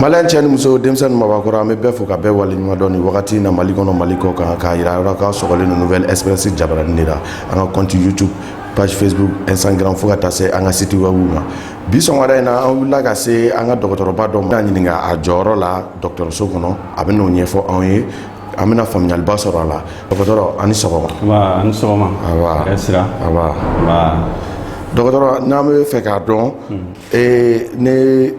maliyɛn cɛ ni muso denmisɛn ni mabakɔrɔ an bɛ bɛɛ fo ka bɛɛ waleɲuman dɔn nin wagati in na mali kɔnɔ mali kɔkan k'a yira yɔrɔ k'a sɔgɔlen don nouvelle express jabaranin de la an ka compte youtube page facebook instagram fo ka taa se an ka site web ma bi sɔgɔmada in na an wulila ka se an ka dɔgɔtɔrɔba dɔ ma an ɲininka a jɔyɔrɔ la dɔgɔtɔrɔso kɔnɔ a bɛ n'o ɲɛfɔ anw ye an bɛna faamuyaliba sɔrɔ a la dɔgɔtɔrɔ a ni sɔgɔma Wa a ni sɔgɔma. Awa. Hɛrɛ sira. Awa. Nba. dɔgɔtɔrɔ n'an b'a fɛ k'a dɔn Ee n'i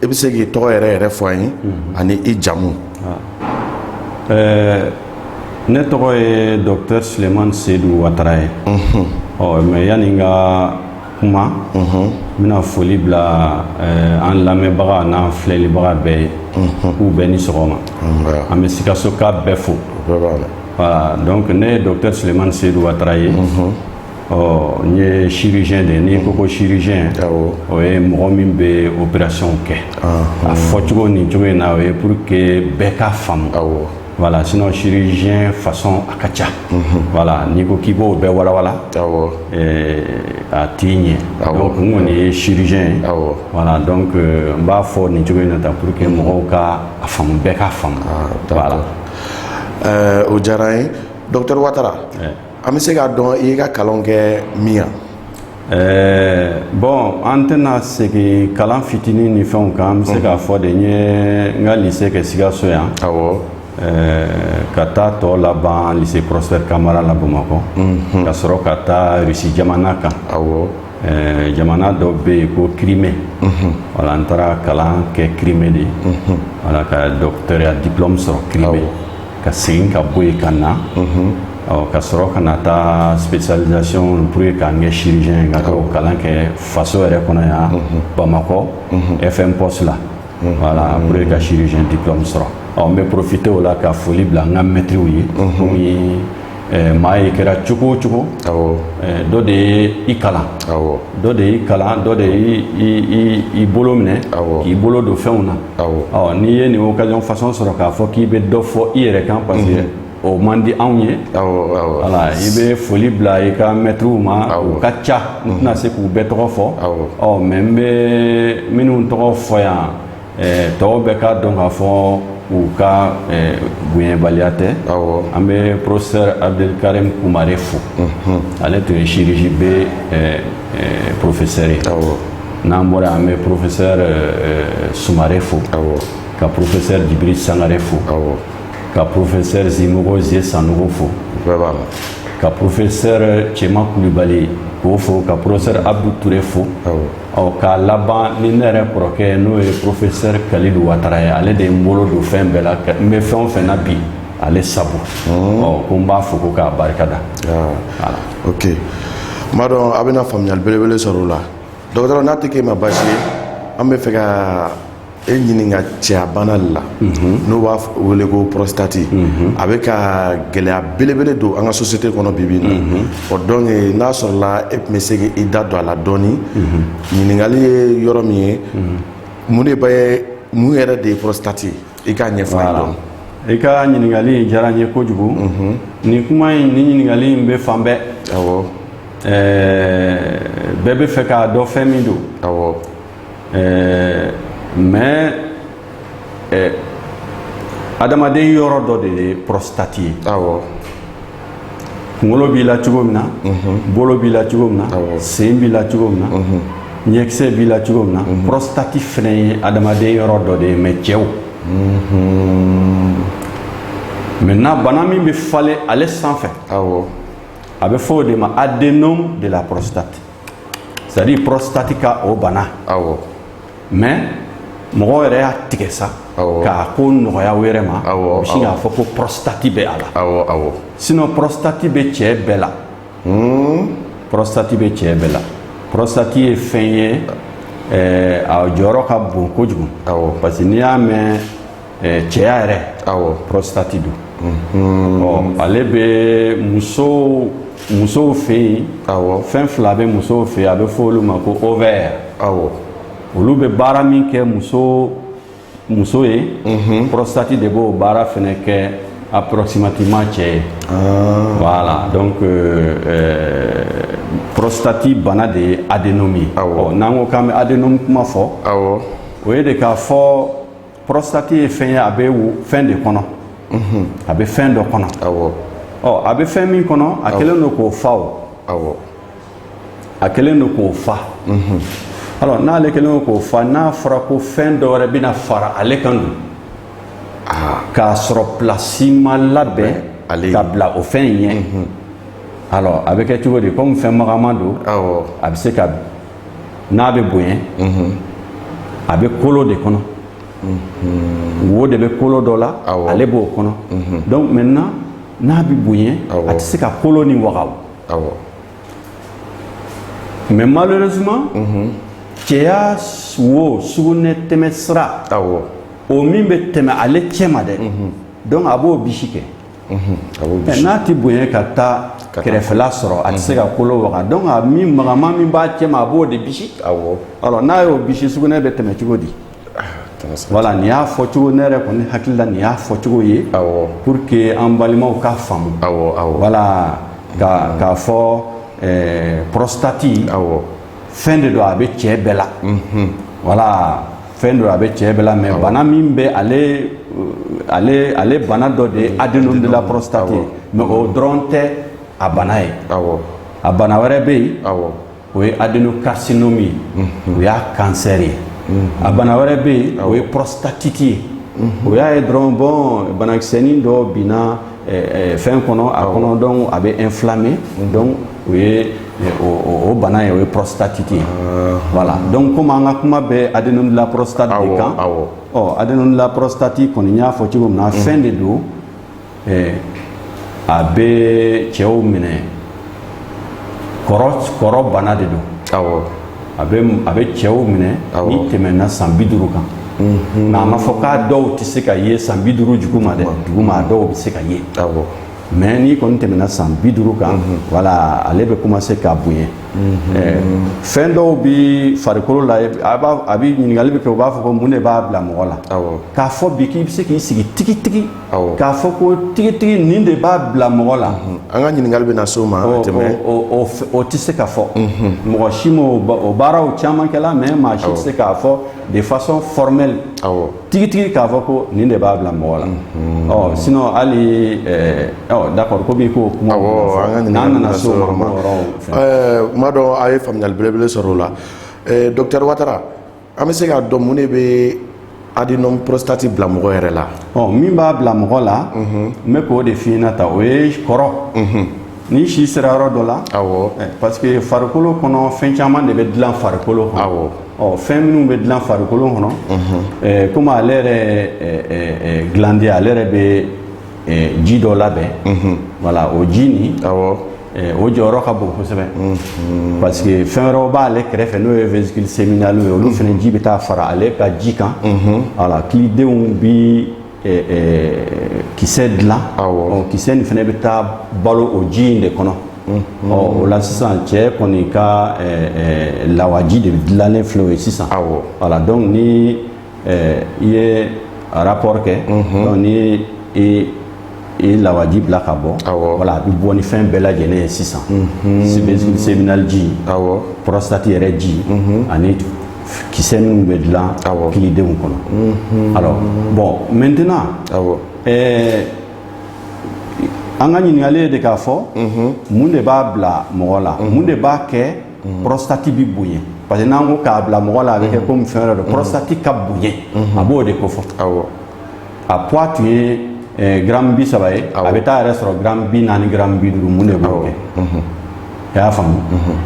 bɛ se k'i tɔgɔ yɛrɛ yɛrɛ fɔ an ye ani i jamu ɛɛ ne tɔgɔ ye dɔkitɛri suleman sedu watara ye ɔ mais yanni n ka kuma n bɛna foli bila an lamɛnbaga n'an filɛlibaga bɛɛ ye k'u bɛɛ ni sɔgɔma an bɛ sikasoka bɛɛ fo donc ne ye dɔkitɛri suleman sedu watara ye ɔ n ye chirurgien de ye n'i ko ko chirurgien awɔ o ye mɔgɔ min bɛ opération kɛ a fɔcogo nin cogo in na o ye pour que bɛɛ k'a faamu awɔ voilà sinon chirurgien façon a ka ca voilà n'i ko k'i b'o bɛɛ walawala awɔ eh, a tɛ ɲɛ Awɔ. donc n kɔni ye chirurgien ye awɔ voilà donc euh, n b'a fɔ nin cogo in na tan pour que mɔgɔw ka a faamu bɛɛ k'a faamu Ah, d'accord. voilà Ɛɛ, o diyara an ye dɔkitɛri watara Eh. an bɛ se k'a dɔn i ka kalan kɛ min yan ɛɛ bon an tɛna segin kalan fitinin ni fɛnw kan n bɛ se k'a fɔ de n ye n ka lycée kɛ sikaso yan ka taa tɔ laban lycée prosper kamara la bamakɔ ka sɔrɔ ka taa rusi jamana kan jamana dɔ bɛ yen ko crimée voilà n taara kalan kɛ crimée de voilà ka dɔkitɛriya diplôme sɔrɔ crimée ka segin ka bɔ yen ka na ka sɔrɔ ka na taa spécialisation pour que ka n kɛ chirurgien ye ka k'o kalan kɛ faso yɛrɛ kɔnɔ yan Bamakɔ FMPOS la voilà pour que ka chirurgien diplôme sɔrɔ ɔ n bɛ profiter o la ka foli bila n ka mɛtiriw ye comme maa ye kɛra cogo o cogo dɔ de ye i kalan dɔ de y'i kalan dɔ de y'i bolo minɛ k'i bolo don fɛnw na n'i ye nin occasion façon sɔrɔ k'a fɔ k'i bɛ dɔ fɔ i yɛrɛ kan parce que o man di anw ye voilà i bɛ foli bila i ka mɛtiriw ma u ka ca n tɛna se k'u bɛɛ tɔgɔ fɔ ɔ mais n bɛ minnu tɔgɔ fɔ yan tɔw bɛɛ k'a dɔn k'a fɔ u ka bonyabaliya tɛ an bɛ porofesɛri abdɛl karim kumare fo ale tun ye chirurgie B porofesɛri ye n'an bɔra an bɛ porofesɛri sumare fo ka porofesɛri jibirili sangare fo ka porofesɛri zimɔgɔ zie sanɔgɔ fo ka porofesɛri cɛman kulubali k'o fo ka porofesɛri abdu ture fo ɔ k'a laban ni ne yɛrɛ kɔrɔkɛ n'o ye professeur kalilu watara ye ale de ye n bolo don fɛn bɛɛ la n bɛ fɛn o fɛn na bi ale sabu hmm. ɔ ko n b'a fo ko k'a barika da ah. ok n b'a dɔn a bɛna faamuyali belebele sɔrɔ o la dɔgɔtɔrɔ n'a tɛ k'e ma baasi ye an bɛ fɛ ka e ɲininka cɛyabana de la n'o b'a f- wele ko prostate a bɛ ka gɛlɛya belebele don an ka société kɔnɔ bi bi in na o donc n'a sɔrɔla e tun bɛ se k'i da don a la dɔɔni ɲininkali ye yɔrɔ min ye mun de bɛ mun yɛrɛ de ye prostate ye i k'a ɲɛfɔ an ye dɔɔni i ka ɲininkali in diyara n ye kojugu nin kuma in nin ɲininkali in bɛ fan bɛɛ awɔ ɛɛ, bɛɛ bɛ fɛ k'a dɔn fɛn min don awɔ ɛɛ mais ɛɛ adamaden yɔrɔ dɔ de ye pɔrɔsitati ye awɔ kunkolo b'i la cogo min na mhm. bolo b'i la cogo min na sen b'i la cogo min na mhm. ɲɛkisɛ b'i la cogo min na mhm. pɔrɔsitati fana ye adamaden yɔrɔ dɔ de ye mais cɛw maintenant bana min bɛ falen ale sanfɛ awɔ a bɛ fɔ o de ma adénome de la prostate c'est à dire prostate ka o bana awɔ mais mɔgɔw yɛrɛ y'a tigɛ sa k'a ko nɔgɔya u yɛrɛ ma u bɛ sin k'a fɔ ko prostate bɛ a la awɔ awɔ sinon prostate bɛ cɛ bɛɛ la hmm. prostate bɛ cɛ bɛɛ la prostate ye fɛn ye a jɔyɔrɔ ka bon kojugu awɔ parce que n'i y'a mɛn cɛya yɛrɛ prostate don ale bɛ muso musow fɛ yen fɛn fila bɛ musow fɛ a bɛ fɔ olu ma ko ovaires olu bɛ baara min kɛ muso muso ye prostate de b'o baara fana kɛ approximativement cɛ ye voilà donc prostate bana de ye adénome ye n'an ko k'an bɛ adénome kuma fɔ o ye de k'a fɔ prostate ye fɛn ye a bɛ wo fɛn de kɔnɔ a bɛ fɛn dɔ kɔnɔ a bɛ fɛn min kɔnɔ a kɛlen don k'o fa a kɛlen don k'o fa alors n'ale kɛlen k'o fa n'a fɔra ko fɛn dɔ wɛrɛ bɛna fara ale kan dun k'a sɔrɔ plasi ma labɛn ka bila o fɛn in ɲɛ alors a bɛ kɛ cogo di comme fɛn magaman don a bɛ se ka n'a bɛ bonya a bɛ kolo de kɔnɔ wo de bɛ kolo dɔ la ale b'o kɔnɔ donc maintenant n'a bɛ bonya a tɛ se ka kolo nin waga mais malheureusement cɛya wo sugunɛ tɛmɛ sira o min bɛ tɛmɛ ale cɛma dɛ donc a b'o bisi kɛ. n'a tɛ bonya ka taa kɛrɛfɛla sɔrɔ a tɛ se ka kolo waga donc a min magaman min b'a cɛma a b'o de bisi n'a y'o bisi sugunɛ bɛ tɛmɛ cogo di wala nin y'a fɔ cogo ne yɛrɛ kɔni hakilila nin y'a fɔ cogo ye pour que an balimaw k'a faamu wala k'a fɔ pɔrɔsitati fɛn de don a bɛ cɛ bɛɛ la wala fɛn don a bɛ cɛ bɛɛ la mais bana min bɛ ale ale ale bana dɔ de ye adénome de la prostate ye mais o dɔrɔn tɛ a bana ye a bana wɛrɛ bɛ yen o ye adénocarcinome ye mhm. o y'a cancer ye mhm. a bana wɛrɛ bɛ yen o ye prostatite ye mhm. o y'a ye dɔrɔn bon banakisɛnin dɔ binna eh, eh, fɛn kɔnɔ a kɔnɔ donc a bɛ inflammer donc o ye o bana ye o ye prostatite ye wala donc komi an ka kuma bɛ adénome de la prostate de kan ɔ adénome de la prostate kɔni n y'a fɔ cogo min na fɛn de don a bɛ cɛw minɛ kɔrɔ bana de don a bɛ cɛw minɛ n'i tɛmɛna san bi duuru kan mais a ma fɔ k'a dɔw tɛ se ka ye san bi duuru duguma dɛ duguma dɔw bɛ se ka ye mais n'i kɔni tɛmɛna san bi duuru kan wala ale bɛ commencer ka bonya fɛn dɔw bɛ farikolo la a bɛ ɲininkali bɛ kɛ u b'a fɔ ko mun de b'a bila mɔgɔ la k'a fɔ bi k'i bɛ se k'i sigi tigitigi k'a fɔ ko tigitigi nin de b'a bila mɔgɔ la an ka ɲininkali bɛ na se o ma tɛmɛ o tɛ se ka fɔ mɔgɔ si ma o baaraw caman kɛla mais maa si tɛ se k'a fɔ de façon formelle tigitigi k'a fɔ ko nin de b'a bila mɔgɔ la ɔ sinon hali d'accord ko b'i ko kuma n'an nana se o ma donc an ye faamuyali belebele sɔrɔ o la dɔkitɛri watara an bɛ se k'a dɔn mun de bɛ adénome prostate bila mɔgɔ yɛrɛ la ɔ min b'a bila mɔgɔ la n bɛ k'o de f'i ɲɛna tan o ye kɔrɔ Ni si sera yɔrɔ dɔ la parce que farikolo kɔnɔ fɛn caman de bɛ dilan farikolo kɔnɔ fɛn minnu bɛ dilan farikolo kɔnɔ kɔmi ale yɛrɛ glande ale yɛrɛ bɛ ji dɔ labɛn wala o ji nin o jɔyɔrɔ ka bon kosɛbɛ parce que fɛn wɛrɛ b'ale kɛrɛfɛ n'o ye vésicule séminale ye olu fana ji bɛ taa fara ale ka ji kan wala kilidenw bɛ kisɛ dilan kisɛ nin fana bɛ taa balo o ji in de kɔnɔ o la sisan cɛ kɔni ka lawaji de dilannen filɛ o ye sisan wala donc ni i ye rapport kɛ ni i ye lawaji bila ka bɔ awɔ voilà a bɛ bɔ ni fɛn bɛɛ lajɛlen ye sisan sebe- séminal ji awɔ prostate yɛrɛ ji ani kisɛ minnu bɛ dilan Awɔ. kilidenw kɔnɔ alors bon maintenant awɔ ɛɛ an ka ɲininkali ye de k'a fɔ mun de b'a bila mɔgɔ la mun de b'a kɛ prostate bi bonya parce que n'an ko k'a bila mɔgɔ la a bɛ kɛ komi fɛn wɛrɛ don prostate ka bonya a b'o de kofɔ awɔ a poids tun ye eh, gramme bi saba ye a bɛ taa yɛrɛ sɔrɔ gramme bi naani gramme bi duuru mun de b'o kɛ i y'a faamu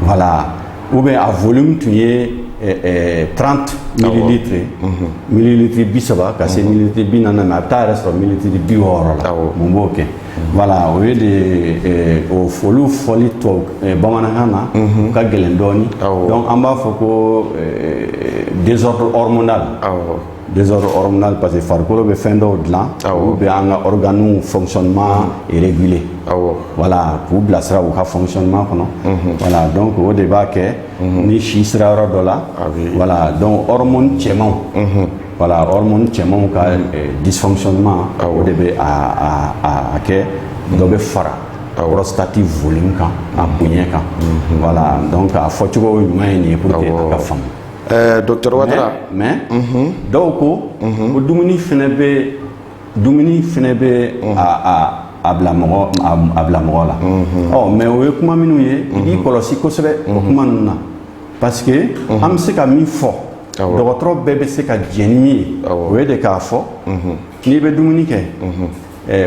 voilà ou bien a volume tun ye eh, eh, 30 millilitres ye millilitre bi saba ka se millilitre bi naani ma a bɛ taa yɛrɛ sɔrɔ millilitre bi wɔɔrɔ la Awɔ. mun b'o kɛ voilà o ye de ye eh, o fɔ olu fɔli tubabu eh, bamanankan na u ka gɛlɛn dɔɔni Awɔ. donc an b'a fɔ ko eh, désordre hormonal Awɔ. Dɛsɛsɔrɔ yɔrɔɔrɔn parce que farikolo bɛ fɛn dɔw dilan u bɛ an ka yɔrɔd fsɔnma yɛrɛe wala k'u bilasira u ka fsɔnma kɔnɔ wala dɔn ko o de b'a kɛ ni si sera yɔrɔ dɔ la wala dɔnɔrɔm cɛmanw wala cɛmanw ka disɔnma o de bɛ kɛ dɔ bɛ fara kati foli kan a bonya kan wala dɔn k'a fɔcogo ɲuman ye nin ye ka faamu Ɛɛ docteur Watara mais dɔw ko ko dumuni fana bɛ dumuni fana bɛ a bila mɔgɔ la ɔ mais o ye kuma minnu ye i k'i kɔlɔsi kosɛbɛ o kuma ninnu na parce que an bɛ se ka min fɔ dɔgɔtɔrɔ bɛɛ bɛ se ka jɛn ni min ye o ye de k'a fɔ n'i bɛ dumuni kɛ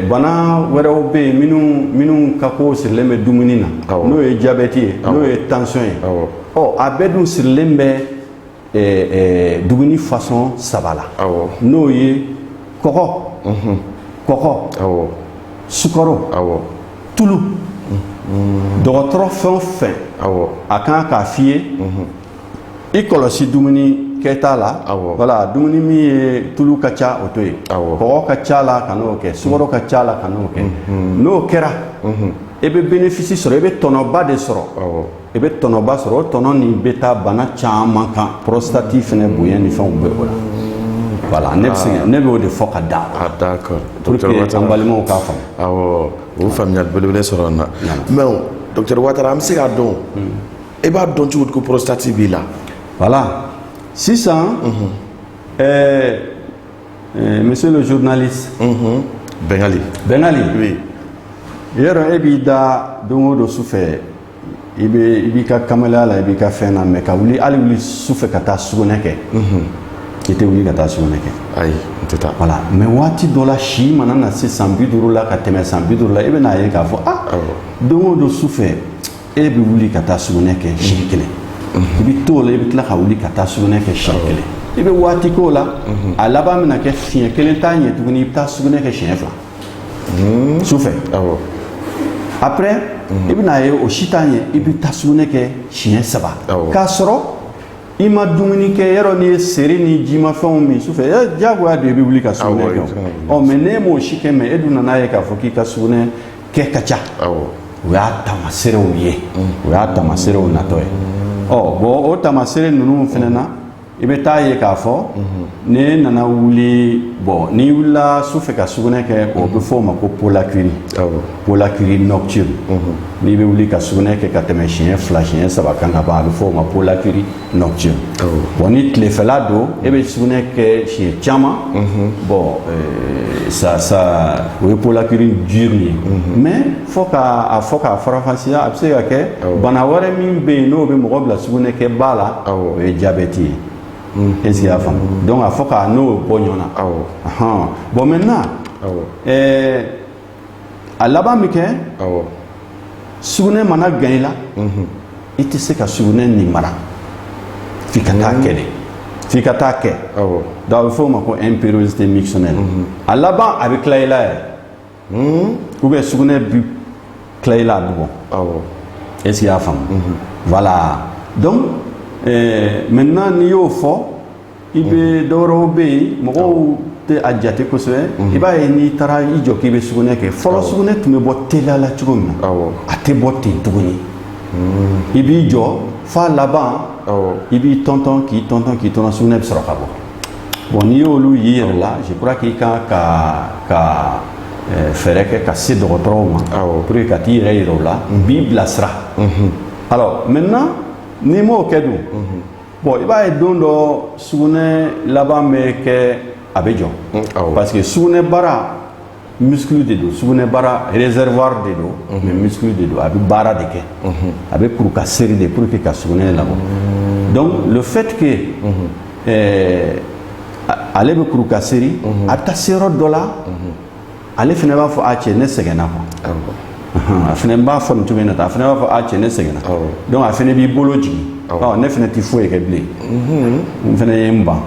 bana wɛrɛw bɛ yen minnu minnu ka ko sirilen bɛ dumuni na n'o ye jabɛti ye n'o ye tansiyɔn ye ɔ a bɛɛ dun sirilen bɛ dumuni fasɔn saba la n'o ye kɔgɔ kɔgɔ sukaro tulu dɔgɔtɔrɔ fɛn o fɛn a ka kan k'a f'i ye i kɔlɔsi dumuni kɛta la awɔ voilà dumuni min ye tulu ka ca o to yen awɔ kɔgɔ ka ca a la kan'o kɛ sukaro ka ca a la kan'o kɛ n'o kɛra i bɛ bénéfice sɔrɔ i bɛ tɔnɔba de sɔrɔ awɔ i bɛ tɔnɔba sɔrɔ o tɔnɔ nin bɛ taa bana caman kan prostate fɛnɛ bonya ni fɛnw bɛ o la voilà ne bɛ se ne bɛ o de fɔ ka da a d'accord pour que docteur an balimaw k'a faamu awɔ o faamuyali belebele sɔrɔ n na mais docteur watara an bɛ se k'a dɔn e b'a dɔn cogo di ko porositati b'i la voilà sisan ɛɛ ɛɛ monsieur le journaliste bɛngali bɛngali oui yɔrɔ e b'i da don o don su fɛ i bɛ i b'i ka kamalenya la i b'i ka fɛn na mais ka wuli hali wuli su fɛ ka taa sugunɛ kɛ i tɛ wuli ka taa sugunɛ kɛ ayi n tɛ taa voilà mais waati dɔ la si mana na se san bi duuru la ka tɛmɛ san bi duuru la i bɛna ye k'a fɔ ah Awɔ. don o don su fɛ e bɛ wuli ka taa sugunɛ kɛ siɲɛ mhm. kelen i bɛ t'o la i bɛ tila ka wuli ka taa sugunɛ kɛ siɲɛ kelen i bɛ waati k'o la mhm. a laban bɛna kɛ siɲɛ kelen t'a ɲɛ tuguni i bɛ taa sugunɛ kɛ siɲɛ fila mhm. sufɛ après i bɛna ye o si t'a ɲɛ i bɛ taa sugunɛ kɛ siɲɛ saba k'a sɔrɔ i ma dumuni kɛ yɔrɔ n'i ye seri ni jimafɛnw min sufɛ diyagoya don i bɛ wuli ka sugunɛ kɛ ɔ mais n'e m'o si kɛ mais e dun nan'a ye k'a fɔ k'i ka sugunɛ kɛ ka ca o y'a taamaseerew ye o y'a taamaseerew natɔ ye ɔ bon o taamaseere ninnu fana na i bɛ taa ye k'a fɔ n'i nana wuli bon n'i wulila su fɛ ka sugunɛ kɛ o bɛ f'o ma ko pollakiurie pollakiurie nocturne n'i bɛ wuli ka sugunɛ kɛ ka tɛmɛ siɲɛ fila siɲɛ saba kan ka ban a bɛ f'o ma pollakiurie nocturne bon ni tilefɛla don e bɛ sugunɛ kɛ siɲɛ caman bon euh, ça ça o ye pollakiurie diurne ye mais fo ka a fo k'a faranfasiya a bɛ se ka kɛ bana wɛrɛ min bɛ yen n'o bɛ mɔgɔ bila sugunɛ kɛ ba la o ye jabɛti ye est ce que i y'a faamu donc a fo k'a n'o bɔ ɲɔgɔn na bon maintenant ɛɛ a laban bɛ kɛ sugunɛ mana gan i la i tɛ se ka sugunɛ nin mara f'i ka taa kɛ de f'i ka taa kɛ donc a bɛ f'o ma ko impériosité mictionnelle a laban a bɛ tila i la yɛrɛ ou bien sugunɛ bɛ tila i la a bɛ bɔ est ce que i y'a faamu voilà donc maintenant n'i y'o fɔ I bɛ dɔ wɛrɛw bɛ yen mɔgɔw tɛ a jate kosɛbɛ i b'a ye n'i taara i jɔ k'i bɛ sugunɛ kɛ fɔlɔ sugunɛ tun bɛ bɔ teliya la cogo min na a tɛ bɔ ten tuguni i b'i jɔ f'a laban i b'i tɔntɔn k'i tɔntɔn k'i tɔn sugunɛ bɛ sɔrɔ ka bɔ bon n'i y'olu y'i yɛrɛ la je crois k'i ka kan ka fɛɛrɛ kɛ ka se dɔgɔtɔrɔw ma pour que ka t'i yɛrɛ jira u la u b'i bilasira alors maintenant n'i m'o kɛ dun bon i b'a ye don dɔ sugunɛ laban bɛ kɛ a bɛ jɔ mm, parce que sugunɛ bara muscle de don sugunɛ bara réservoir de don mhm. mais muscle de don a bɛ baara de kɛ mhm. a bɛ kuru ka serrer de pour que ka sugunɛ labɔ mhm. donc le fait que eh, ale bɛ kuru ka serrer a bɛ taa se yɔrɔ dɔ la ale fana b'a fɔ a cɛ ne sɛgɛnna quoi awɔ ɔnhɔn a fana b'a fɔ nin cogo in na tan a fana b'a fɔ a cɛ ne sɛgɛnna Awɔ. donc a fana b'i bolo jigin Awɔ. ɔ ne fana tɛ foyi kɛ bilen n fana ye n ban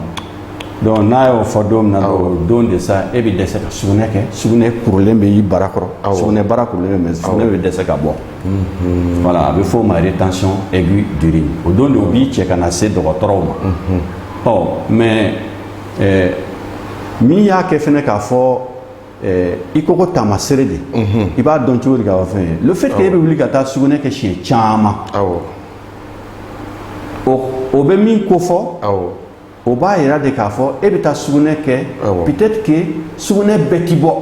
donc n'a y'o fɔ don min na dɔrɔn o don de sa e bɛ dɛsɛ ka sugunɛ kɛ sugunɛ kurulen bɛ i bara kɔrɔ Awɔ. sugunɛ bara kurulen bɛ sugunɛ bɛ dɛsɛ ka bɔ voilà a bɛ f'o ma rétention aiguë d'urine o don de o b'i cɛ ka na se dɔgɔtɔrɔw ma ɔ mais ɛɛ min y'a kɛ fɛnɛ k'a fɔ ɛɛ i ko ko taamasere de i b'a dɔn cogo di k'a fɔ fɛn ye le fait que e bɛ wuli ka taa sugunɛ kɛ siɲɛ caman awɔ o o bɛ min ko fɔ awɔ o b'a yira de k'a fɔ e bɛ taa sugunɛ kɛ Awɔ. peut-être que sugunɛ bɛɛ ti bɔ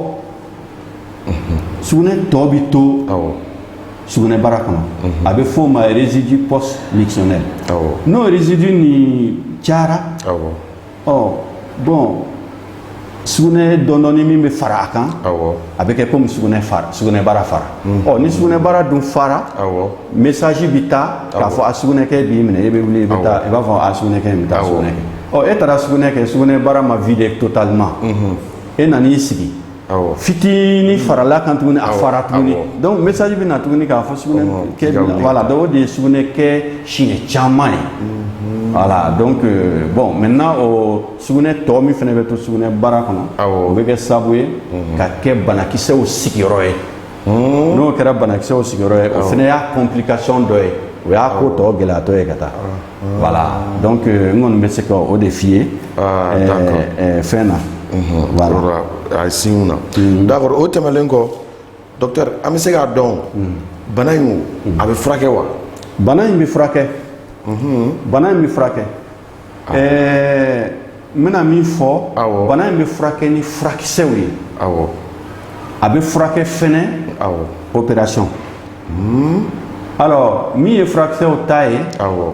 sugunɛ tɔ bi to awɔ sugunɛbara kɔnɔ a bɛ f'o ma résidu post mictionnel awɔ n'o résidu nin cayara awɔ ɔ bon sugunɛ dɔɔndɔɔni min bɛ fara a kan a bɛ kɛ comme sugunɛ fara sugunɛbara fara ɔ ni sugunɛbara dun fara message bɛ taa k'a fɔ a sugunɛkɛ b'i minɛ e bɛ wuli i bɛ taa i b'a fɔ a sugunɛkɛ n bɛ taa sugunɛ kɛ ɔ e taara sugunɛ kɛ sugunɛbara ma vidé totalement e nan'i sigi fitinin farala kan tuguni a fara tuguni donc message bɛ na tuguni k'a fɔ sugunɛ kɛ voilà donc o de ye sugunɛ kɛ siɲɛ caman ye voilà donc bon maintenant o sugunɛ tɔ min fana bɛ to sugunɛbara kɔnɔ o bɛ kɛ sababu ye ka kɛ banakisɛw sigiyɔrɔ ye n'o kɛra banakisɛw sigiyɔrɔ ye o fana y'a complication dɔ ye o y'a ko tɔ gɛlɛyatɔ ye ka taa Voilà donc n kɔni bɛ se ka o de f'i ye fɛn na voilà a signe na d'accord o tɛmɛnen kɔ docteur an bɛ se k'a dɔn bana in a bɛ furakɛ wa bana in bɛ furakɛ bana in bɛ furakɛ ɛɛ n bɛna min fɔ awɔ. bana in bɛ furakɛ ni furakisɛw ye awɔ a bɛ furakɛ fɛnɛ awɔ opération alors min ye furakisɛw ta ye awɔ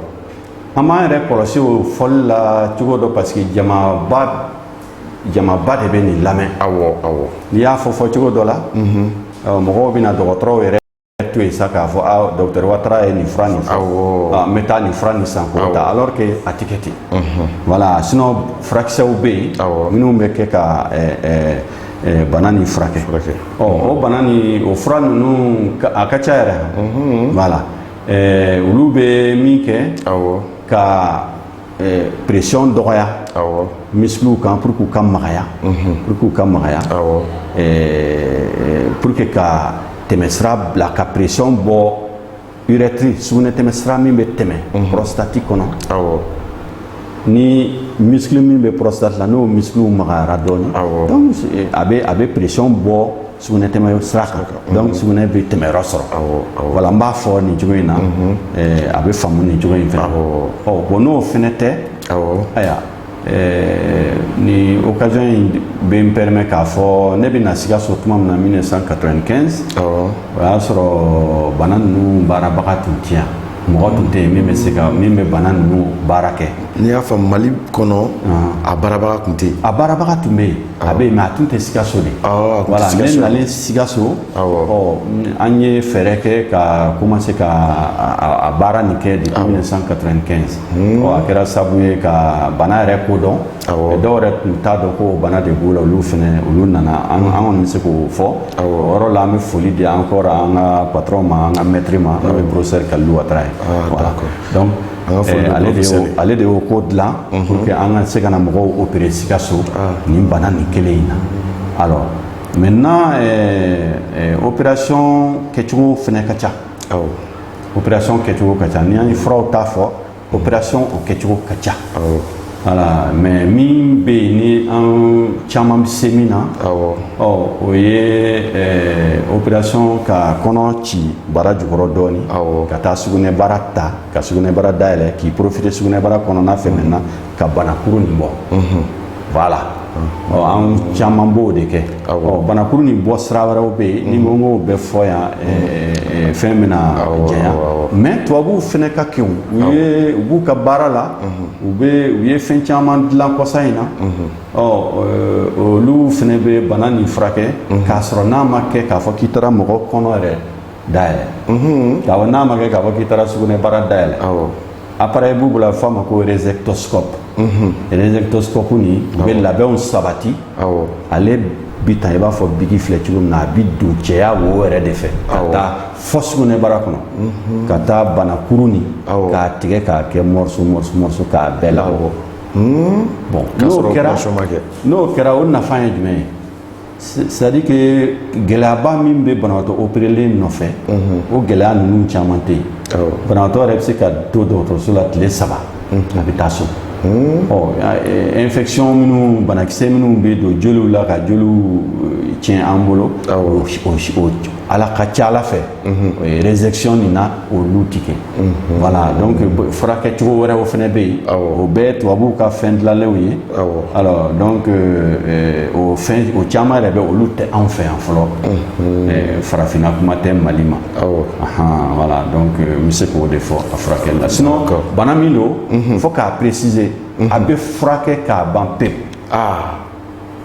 an b'an yɛrɛ kɔlɔsi o fɔli la cogo dɔ parce que jamaba jamaba de bɛ nin lamɛn awɔ awɔ n'i y'a fɔ fɔcogo dɔ la ɔ, mɔgɔw bɛna dɔgɔtɔrɔw yɛrɛ to yen sa k'a fɔ a docteur Watara ye nin fura nin fɔ n bɛ taa nin fura nin san k'o ta alors que a tɛ kɛ ten voilà sinon furakisɛw bɛ yen minnu bɛ kɛ ka bana nin furakɛ ɔ o bana nin o fura ninnu a ka ca yɛrɛ voilà olu bɛ min kɛ ka ɛɛ pression dɔgɔya awɔ misikiliw kan pour que u ka magaya mhm. pour que u ka magaya awɔ ɛɛ pour que ka tɛmɛsira bila ka pression bɔ urɛtiri sugunɛ tɛmɛsira min bɛ tɛmɛ mhm. prostate kɔnɔ awɔ ni misikili min bɛ prostate la n'o misikiliw magayara dɔɔnin donc a bɛ a bɛ pression bɔ sugunɛ tɛmɛ sira kan donc sugunɛ bɛ tɛmɛ yɔrɔ sɔrɔ voilà n b'a fɔ nin cogo in na a bɛ faamu nin cogo in fɛ ɔ bon n'o fɛnɛ tɛ ayiwa nin occasion in bɛ n permet k'a fɔ ne bɛ na Sikaso tuma min na 1995 o y'a sɔrɔ bana ninnu baarabaga tun tɛ yan mɔgɔ tun tɛ yen min bɛ se ka min bɛ bana ninnu baara kɛ n'i y'a fɔ Mali kɔnɔ a baarabaga tun tɛ yen a baarabaga tun bɛ yen a bɛ yen mɛ a tun tɛ sikaso dɛ voilà ne nalen sikaso an ye fɛɛrɛ kɛ ka commencer ka baara nin kɛ depuis 1995 a kɛra sabu ye ka bana yɛrɛ ko dɔn dɔw yɛrɛ tun t'a dɔn ko bana de b'u la olu fana olu nana an kɔni bɛ se k'o fɔ o yɔrɔ la an bɛ foli di an kɔrɔ an ka patron ma an ka mɛtiri ma n'o ye professeur Kalilou Ouattara ye ale de y'o ko dilan pour que an ka se ka na mɔgɔw opérer Sikaso nin bana nin kelen in na alors maintenant opération kɛcogo fana ka ca awɔ opération kɛcogo ka ca ni an ye furaw ta fɔ opération o kɛcogo ka ca awɔ voilà mais min bɛ yen ni an caman bɛ se min na awɔ ɔ o ye opération ka kɔnɔ ci bara jukɔrɔ dɔɔnin awɔ ka taa sugunɛbara ta ka sugunɛbara dayɛlɛ k'i porofite sugunɛbara kɔnɔna fɛ maintenant ka banakuru nin bɔ voilà an caman b'o de kɛ banakuru nin bɔ sira wɛrɛw bɛ yen ni an ko o bɛɛ fɔ yan fɛn bɛna janya mɛ tubabuw fana ka kegun u b'u ka baara la u u ye fɛn caman dilan kɔsa in na olu fana bɛ bana nin furakɛ k'a sɔrɔ n'a ma kɛ k'a fɔ k'i taara mɔgɔ kɔnɔ yɛrɛ dayɛlɛ ka fɔ n'a ma kɛ k'a fɔ k'i taara sugunɛbara dayɛlɛ appareil b'u bolo a bɛ f'a ma ko résectoscope résectoscope nin u bɛ labɛnw sabati ale bi ta i b'a fɔ biki filɛ cogo min na a bi don cɛya wo yɛrɛ de fɛ ka taa fo sugunɛbara kɔnɔ ka taa banakuru nin k'a tigɛ k'a kɛ morceau morceau morceau k'a bɛɛ labɔ bon n'o kɛra n'o kɛra o nafa ye jumɛn ye c'est-à-dire que gɛlɛyaba min bɛ banabaatɔ opérerlen nɔfɛ o gɛlɛya ninnu caman tɛ yen banabaatɔ yɛrɛ bɛ se ka to dɔgɔtɔrɔso la tile saba a bɛ taa so infection minnu banakisɛ minnu bɛ don joliw la ka joliw tiɲɛ an bolo a la ka ca a la fɛ résection min na olu tigɛ voilà donc furakɛ cogo wɛrɛ o fana bɛ yen o bɛɛ tubabuw ka fɛn dilalenw ye o o caman yɛrɛ bɛ olu tɛ anw fɛ yan fɔlɔ farafinna kuma tɛ mali ma voilà donc n bɛ se k'o de fɔ a furakɛ la sinon bana min don fo k'a préciser a bɛ furakɛ k'a ban pe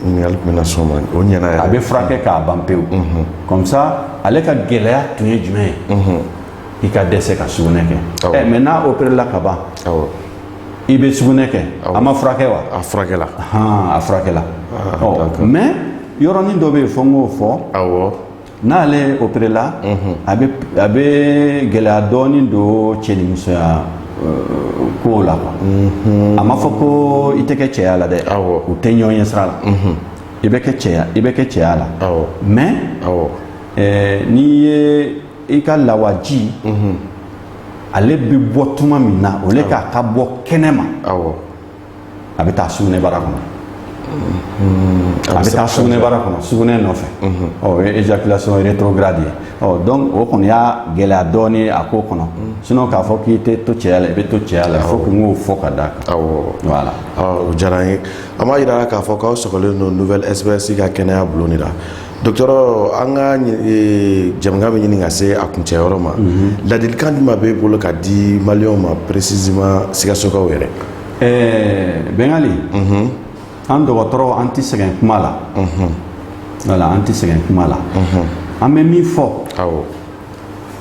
ɲininkali tun bɛ na s'o ma o ɲɛna yɛrɛ a bɛ furakɛ k'a ban pewu comme ça ale ka gɛlɛya tun ye jumɛn ye i ka dɛsɛ ka sugunɛ kɛ ɛ maintenant n'a opéré la ka ban awɔ i bɛ sugunɛ kɛ a ma furakɛ wa a furakɛla han a furakɛla ɔ mais yɔrɔnin dɔ bɛ yen fo n k'o fɔ awɔ N'ale opéré la a bɛ gɛlɛya dɔɔnin don cɛnimusoya ko la a ma fɔ ko i tɛ kɛ cɛya la dɛ u tɛ ɲɔgɔn ye sira la i bɛ i bɛ kɛ cɛya la mɛ n'i ye i ka lawaji ale bɛ bɔ tuma min na au lieu k'a ka bɔ kɛnɛ ma a bɛ taa sugunɛbara kɔnɔ a bɛ taa sugunɛbara kɔnɔ sugunɛ nɔfɛ ɔ o ye éjaculation rétrograde ye ɔ donc o kɔni y'a gɛlɛya dɔɔnin a ko kɔnɔ sinon k'a fɔ k'i tɛ to cɛya la i bɛ to cɛya la fo n k'o fɔ ka d'a kan voilà o diyara an ye an b'a jira k'a fɔ k'aw sɔgɔlen don Nouvelle SOS ka kɛnɛya bulon de la Dɔgɔtɔrɔ an ka jɛmukan bɛ ɲini ka se a kuncɛyɔrɔ ma ladilikan jumɛn b'e bolo ka di maliyɛnw ma précisément Sikasokaw yɛrɛ ɛɛ bɛngali an dɔgɔtɔrɔ an tɛ sɛgɛn kuma la voilà an tɛ sɛgɛn kuma la an bɛ min fɔ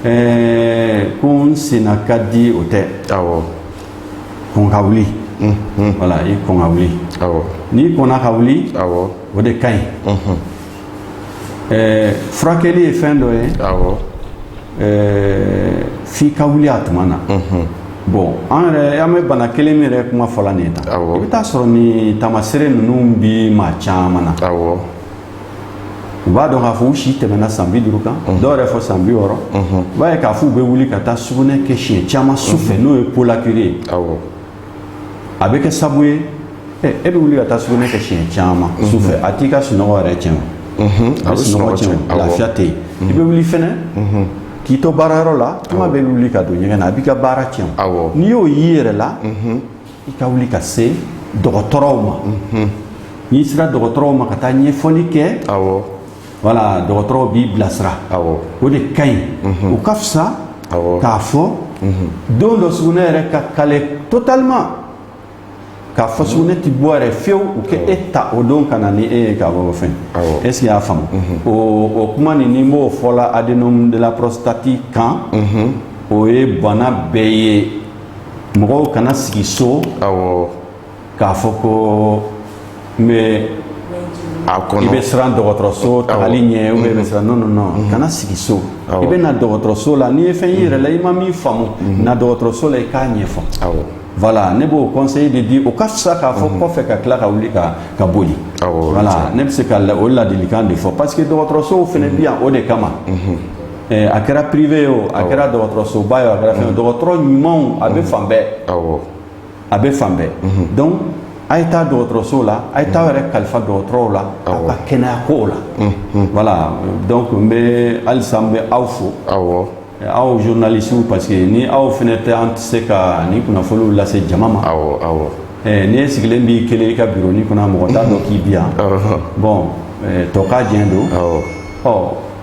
ɛɛ ko n senna ka di o tɛ a kɔn ka wuli voilà i kɔn ka wuli n'i kɔnna ka wuli o de ka ɲi ɛɛ furakɛli ye fɛn dɔ ye ɛɛ f'i ka wuli a tuma na bon an yɛrɛ an bɛ bana kelen min yɛrɛ kuma fɔla nin ye tan i bɛ taa sɔrɔ nin taamasere ninnu bi maa caman na u b'a dɔn k'a fɔ u si tɛmɛna san bi duuru kan dɔw yɛrɛ fo san bi wɔɔrɔ i b'a ye k'a fɔ u bɛ wuli ka taa sugunɛ kɛ siɲɛ caman su fɛ n'o ye pollakiurie ye a bɛ kɛ sabu ye e bɛ wuli ka taa sugunɛ kɛ siɲɛ caman su fɛ a t'i ka sunɔgɔ yɛrɛ tiɲɛ sunɔgɔ lafiya tɛ yen i bɛ wuli fɛnɛ k'i to baarayɔrɔ la kuma bɛɛ wuli ka don ɲɛgɛn na a b'i ka baara tiɲɛ n'i y'o y'i yɛrɛ la i ka wuli ka se dɔgɔtɔrɔw ma n'i sera dɔgɔtɔrɔw ma ka taa ɲɛfɔli kɛ Voilà dɔgɔtɔrɔw b'i bilasira o de ka ɲi o ka fisa k'a fɔ don dɔ sugunɛ yɛrɛ ka kale totalement k'a fɔ sugunɛ tɛ bɔ yɛrɛ fewu u k'e ta o don ka na ni e ye ka bɔ kɔfɛ est-ce que i y'a faamu o kuma nin ne b'o fɔ la adénome de la prostate kan o ye bana bɛɛ ye mɔgɔw kana sigi so k'a fɔ ko n bɛ a kɔnɔ i bɛ siran dɔgɔtɔrɔso tagali ɲɛ ou bien i bɛ siran non non non mm-hmm. kana sigi so i bɛ na dɔgɔtɔrɔso la n'i ye fɛn y'i yɛrɛ la i ma min faamu mm-hmm. na dɔgɔtɔrɔso la i k'a ɲɛfɔ awɔ voilà ne b'o conseil de di o ka fisa k'a fɔ mhm. kɔfɛ ka tila ka wuli ka ka boli voilà ne bɛ se ka o ladilikan de fɔ parce que dɔgɔtɔrɔsow fana mhm. bi yan o de kama mhm. eh, a kɛra privé ye o a kɛra dɔgɔtɔrɔsoba ye o a kɛra fɛn dɔgɔtɔrɔ ɲumanw a bɛ fan bɛɛ a bɛ fan bɛɛ donc a ye taa dɔgɔtɔrɔso la a ye taa yɛrɛ kalifa dɔgɔtɔrɔw la a ka kɛnɛya kow la voilà donc n bɛ halisa n bɛ aw fo aw aw journalistew parce que ni aw fana tɛ an tɛ se ka nin kunnafoniw lase jama ma ni e sigilen b'i kelen i ka biro nin kɔnɔ mɔgɔ t'a dɔn k'i bi yan bon tɔ k'a diɲɛ don ɔ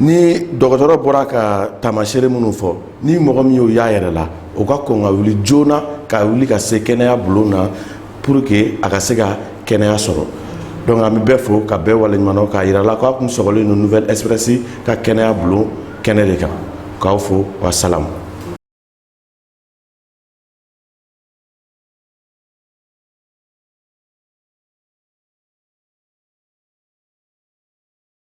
ni dɔgɔtɔrɔ bɔra ka taamaseere minnu fɔ ni mɔgɔ min y'o y'a yɛrɛ la o ka kɔn ka wuli joona ka wuli ka se kɛnɛya bulon na pour que a ka se ka kɛnɛya sɔrɔ donc an bɛ bɛɛ fo ka bɛɛ waleɲuman dɔn k'a yira la k'a kun sɔgɔlen don nouvelle express ka kɛnɛya bulon kɛnɛ de kan k'aw fo wa salamu